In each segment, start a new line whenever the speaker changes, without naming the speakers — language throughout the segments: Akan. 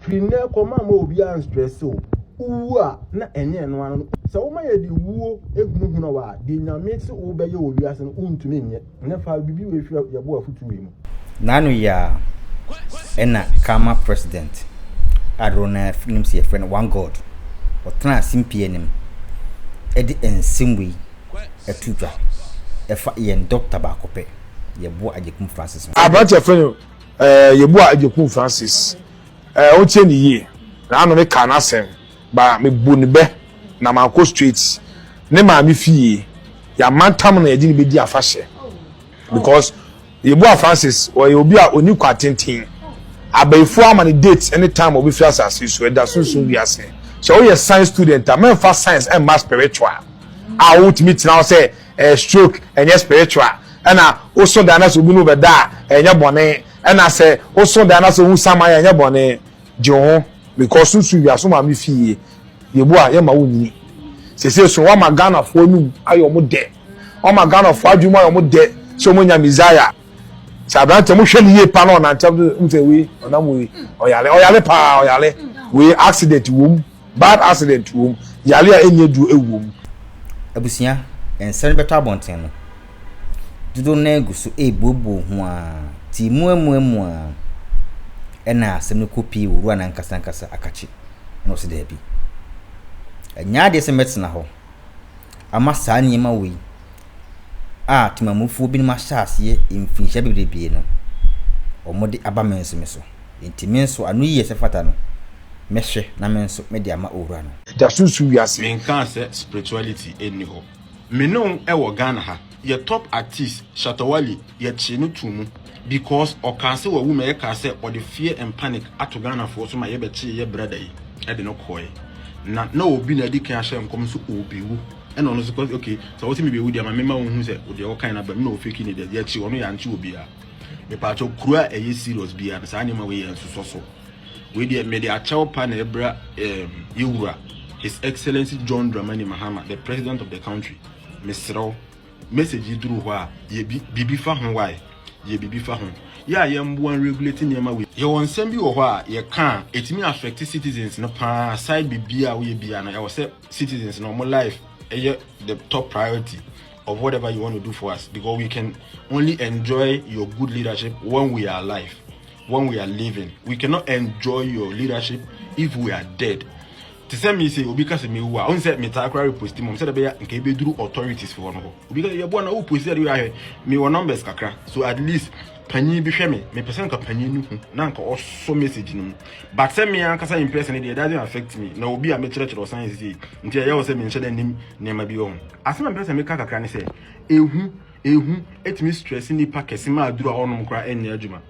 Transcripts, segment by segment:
Firi nnɛ rekɔ ma mma obiara nstrɛse wo. Wowu a, na ɛnyɛ ɛno ara no. Sɛ woma yɛde wuo hunahuna wo a, deɛ Nyame se wobɛyɛ wɔ wiase no, wontumi nyɛ. Ɛnnɛ fa biribi wei hwɛ yɛn bo afutuo wei mu. N'ano yɛ a ɛna Karma president a dodoɔ no ara nim sɛ yɛfrɛ no One God, ɔtenaa simpie anim de nsɛm wei to dwa. Ɛfa yɛn dɔkta baako pɛ, yɛboa Agyekum Francis Nsoh. Aberanteɛ yɛfrɛ no. Eh, yɛbu a Agyekum Francis. Eh, wotie ne yie. Na ano me kaa n'asɛm. Ba mebu ne bɛ na mankɔ straight ne maame fie. Yɛamantam na yɛde ne bɛdi afahyɛ. Because Yeboah Francis ɔyɛ obi a ɔni kwa tenten. Abayifoɔ ama ne date ne time a ɔbɛfiri asase so. Ɛda sunsum wiase. Sɛ woyɛ science student a, mɛmfa science mma spiritual a wotumi tena hɔ sɛ Eh stroke ɛnyɛ spiritual ɛna woso dan na sɛ obi ne wo bɛda a ɛnyɛ bɔne ɛna sɛ woso dan na sɛ ohu saman a ɛnyɛ bɔne gye wo ho because so su wiase ma me fie yɛbu a yɛma wo nyini sese so wama Ghanafoɔ anum ayɛ ɔmo dɛ wama Ghanafoɔ adwene mu ayɛ ɔmo dɛ sɛ ɔmo nya Messiah sɛ aberanteɛ mo hwɛ ne yie pa na ɔnantɛm so mo sɛ wei ɔnam wei ɔyare ɔyare paa ɔyare wei accident wom. Bad accident wɔ mu, yare a ɛnyɛ duro wɔ mu. Abusua, nsɛre bɛtɔ abɔnten no. Dodow no ara gu so rebuobuo ho ara, tii mu amuamua ara. Ɛnna asɛm no kopii Owura no ankasa ankasa akakye, ɛnna ɔse daabi. Ɛnyɛ adeɛ sɛ mɛtena hɔ ama saa nneɛma wei a temamufoɔ binom ahyɛ aseɛ mfinhyia bebrebee no, wɔde aba me nso me so. Enti me nso, ano yiye sɛ ɛfata no, mɛhwɛ na me nso mede ama Owura no. Agya susu wiase. Me nkaa sɛ spirituality nni hɔ. Me ne wo wɔ Ghana ha. Yɛ top artist Shatta Wale yɛ kyee no too mu because ɔkaa sɛ wawu ma yɛ kaa sɛ ɔde fear and panic ato Ghana foɔ so ma yɛ bɛ kyee yɛ brother yi de no kɔɔɛ na na obi na adi kan ahyɛ nkɔm sɛ ɔɔbɛ wu ɛna ɔno nso cos okay sɛ wo se me bɛ wu deɛ ma me ma wo hu sɛ deɛ wo kan no aba mu na ɔfake ne deɛ yɛ kye ɔno yɛ ankye obiara. mepatwɔ kuro a ɛyɛ serious biara no saa nneɛma wei yɛ nsosɔ so wei deɛ mede akyɛw pa na ɛbra ɛɛm yɛwura his excellency john dramani mahama the president of the country mesrɛw message yi duru hɔ a yɛ biribi fa ho wae yɛ biribi fa ho yɛ a yɛmboa regulate nneɛma wei yɛwɔ nsɛm bi wɔ hɔ a yɛka a ɛtumi affect citizens no paa side biribi a woyɛ bia no ɛwɔ sɛ citizens no ɔmo life ɛyɛ the top priority of whatever you want to do for us because we can only enjoy your good leadership when we are alive, when we are living. We cannot enjoy your leadership if we are dead. te sɛ me sɛ obi ka sɛ mewu a ɔn sɛ metaa koraa reposti mom sɛdeɛ bɛyɛ nka ɛbɛduru authorities foɔ no hɔ obi ka yɛboa na woposti adeɛ ahwɛ mewɔ numbers kakra so at least Panyin bi hwɛ me, mepɛ sɛ nka panyin no hu na nka ɔsɔ message no mu. But sɛ me ankasa in person deɛ, it doesn't affect me. Na obi a mekyerɛkyerɛ ɔsan yɛ sisi, nti ɛyɛ wɔ sɛ menhyɛ da nim nneɛma bi wɔ ho. Asɛm a mepɛ sɛ meka kakra ne sɛ, ehu, ehu tumi stress nnipa kɛse ma aduru a wɔnom koraa nyɛ adwuma.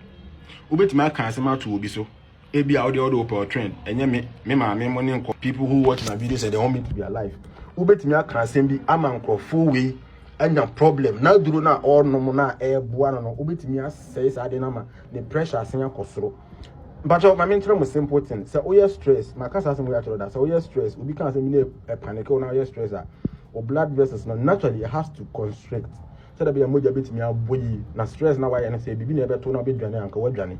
Wobɛtumi aka asɛm ato obi so. Ebi a wode wode wopɛ ɔtwɛn ɛnyɛ me me maame mo ne nkɔ. People who watch my videos and they want me to be alive. Wobɛtumi aka asɛm bi ama nkurɔfoɔ wei anya problem na aduro no a ɔrenom no a ɛreboa no no wobɛtumi asɛe saa de no ama ne pressure asen akɔ soro. Mpakyɛw ma menkyerɛ mo simple thing sɛ woyɛ stress maka saa asɛm wei akyerɛ da sɛ woyɛ stress obi ka asɛm bi na ɛpanike wo na woyɛ stress a o blood vessels no naturally it has to constrict sɛ da bi a mogya bɛtumi abɔ yi na stress na wayɛ no sɛ biribi na ɛbɛto na wobɛdwane anka woadwane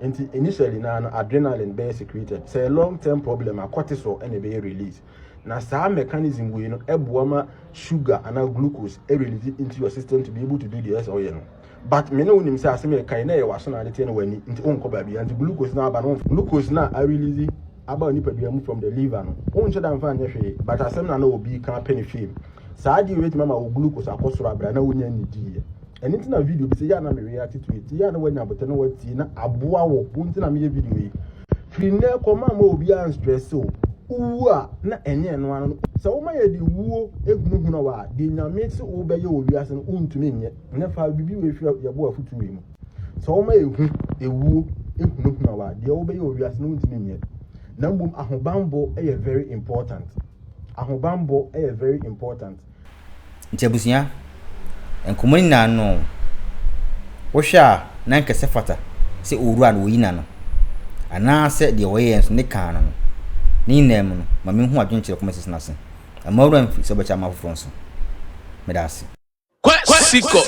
nti initially na no adrenaline bɛyɛ secreted sɛ long term problem a cortisol ɛna ɛbɛyɛ release na saa mechanism wei no ɛboa ma sugar ana glucose release into your system to be able to do the ɛsɛ ɔyɛ no but me ne wo nim sɛ asɛm yɛ kan na ɛyɛ waso na ade teɛ na wani nti wonkɔ baabi nti glucose na aba no glucose na a release aba nipadua mu from the liver no wonhyɛ da mfa nyɛ hwee but asɛm na na obi ka pɛ ne hwee saa adeɛ wei tuma ma wo glucose akɔ soro abira na wonya nni diiɛ ɛno nti na video bi sɛ yɛ a na mewe ate to ɛti yɛ a na wanya abotɛ na watie na aboa wɔ wo nti na meyɛ video yi firi nnɛ kɔma ma obiara nstrɛse o wowu a na ɛnyɛ ɛno ano sɛ woma yɛ de wuo ehunahuna wɔ a de nyame se wobɛyɛ wɔ wiase no wontumi nyɛ ne fa biribi wɔ ehwɛ yɛbɔ afutuo yi mu sɛ woma yɛ hu ewuo ehunahuna wɔ a deɛ wobɛyɛ wɔ wiase no wontumi nyɛ na mmom ahobanbɔ yɛ very important ahobanbɔ yɛ very important Ntsi ebusua, nkɔmbɔ no nyina ano no, wohwɛ a na nkɛsɛ fata sɛ owura no oyi n'ano, anaasɛ deɛ ɔyɛɛ nso ne kaa no no? Ne nyinaa mu no, ma menhu adwenkyerɛ kɔmɛsisi no ase, na mma wura mfiri sɛ wobɛkyɛ ama afoforɔ nso. Meda ase. Quexicus.